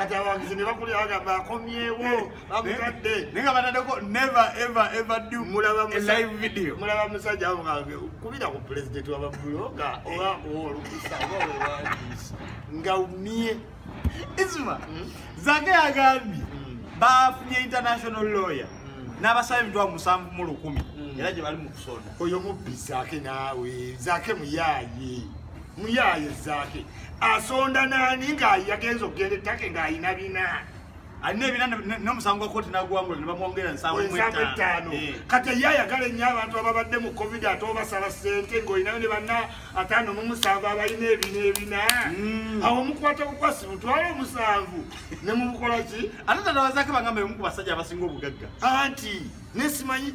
kati abawagizi ne bakulira bagamba akomyewo bamutadde naye nga bataddeko never ever ever do live video mulaba musajja avugange kubira ku pulezidenti wa babuloga oba olukusa oba wewandiisi nga umye isma hmm? zake agambye hmm. bafunye international lawyer hmm. n'abasaba emitwalo musanvu mu lukumi era gye bali mu kusonda oyo mubbi zake naawe zake muyaaye muyaaye zaake asonda naani ngaayagenza okugenda ettake ng'alina bina alina ebina nomusango gwa kooti nagwangula nebamwongera nsanvu etaano eh. kati ye ayagala ennyo abantu ababadde mu covid ate obasala sente ngaolinayo ne banna ataano mumusanvu abalina ebina ebina hmm. awo mukwata bukwasi mutwala omusanvu ne mubukola ki ate tanawazako bangamba yomu ku basajja abasinga obugagga anti nesimanyi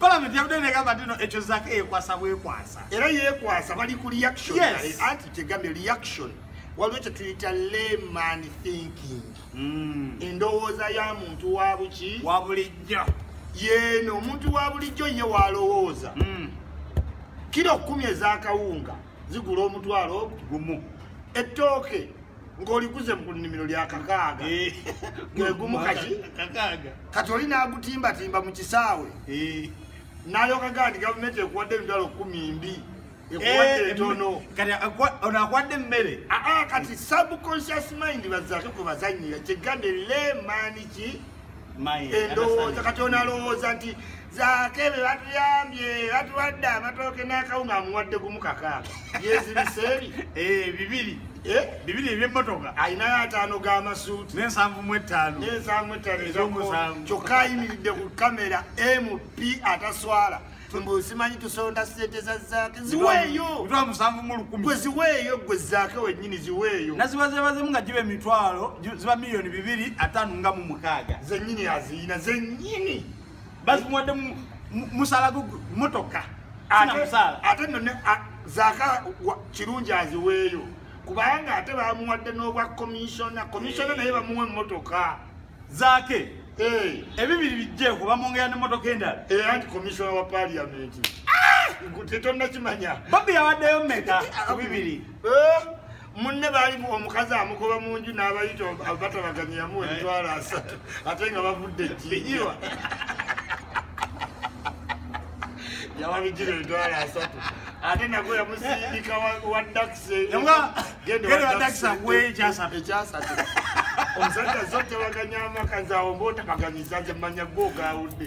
Parliament yabudde negamba nti no ekyo zaka eyekwasa bwekwasa era yekwasa bali ku reaction yes. anti kyegambye reaction waliwo kyetuyita layman thinking mm. endowooza ya muntu wa buki wa bulijjo yeeno omuntu wa bulijjo ye walowooza mm. kiro kumi ezakawunga zigula omutwalo gumu ettooke ng'oliguze mu nnimiro lya kakaaga eh. gwegumu kati kati oli n'agutimbatimba mu kisaawe eh. nalyoka ga nti gavumenti ekuwadde emitwalo kumi mbi ekuwadde eh, entono ono akuwadde emmere aa ah, ah, kati subconscious mind bazake kwe bazanyira kyegande lemani ki endowooza kati onalowooza nti zaake be batuyambye batuwadde amatooke n'akawunga amuwadde gumu kakaaga yezibiseeri eh, bibiri eh? bibiri ebyemmotoka alinayo ataano g'amasuuti n'ensanvu mu ettaano n'ensanvu ettaano ezomusanvu kyokka ayimiridde ku kamera mp ataswala mbu simanyi tusonda sente za zaake ziweeyo gwe ziweeyo gwe zaake wenyini ziweeyo nazibazebazemu nga giba emitwalo ziba miliyoni bibiri atano nga mu mukaaga zenyini aziyina zenyini bazimuwadde musala motoka ate no zaka kirungi aziweeyo kubanga ate bamuwadde n'obwa komishona komishona naye bamuwa emotoka zake eh. ebibiri bijjeeko bamwongera nemotoka endala eh, anti komishona wa paliamenti ah! tetonnakimanya bobi yawaddeyo meka ku bibiri eh? munne baali omukazi amugoba mu nju n'abayita batabaganya yamuwa emitwalo asatu ate nga bavudde ekiyiwa yawabijira emitwalo asatu ate nago yamusindika wa dakisi ekyasatu omusajja zo tebaganya amaka nze awo mba otabaganyiza nze manya gwe ogawudde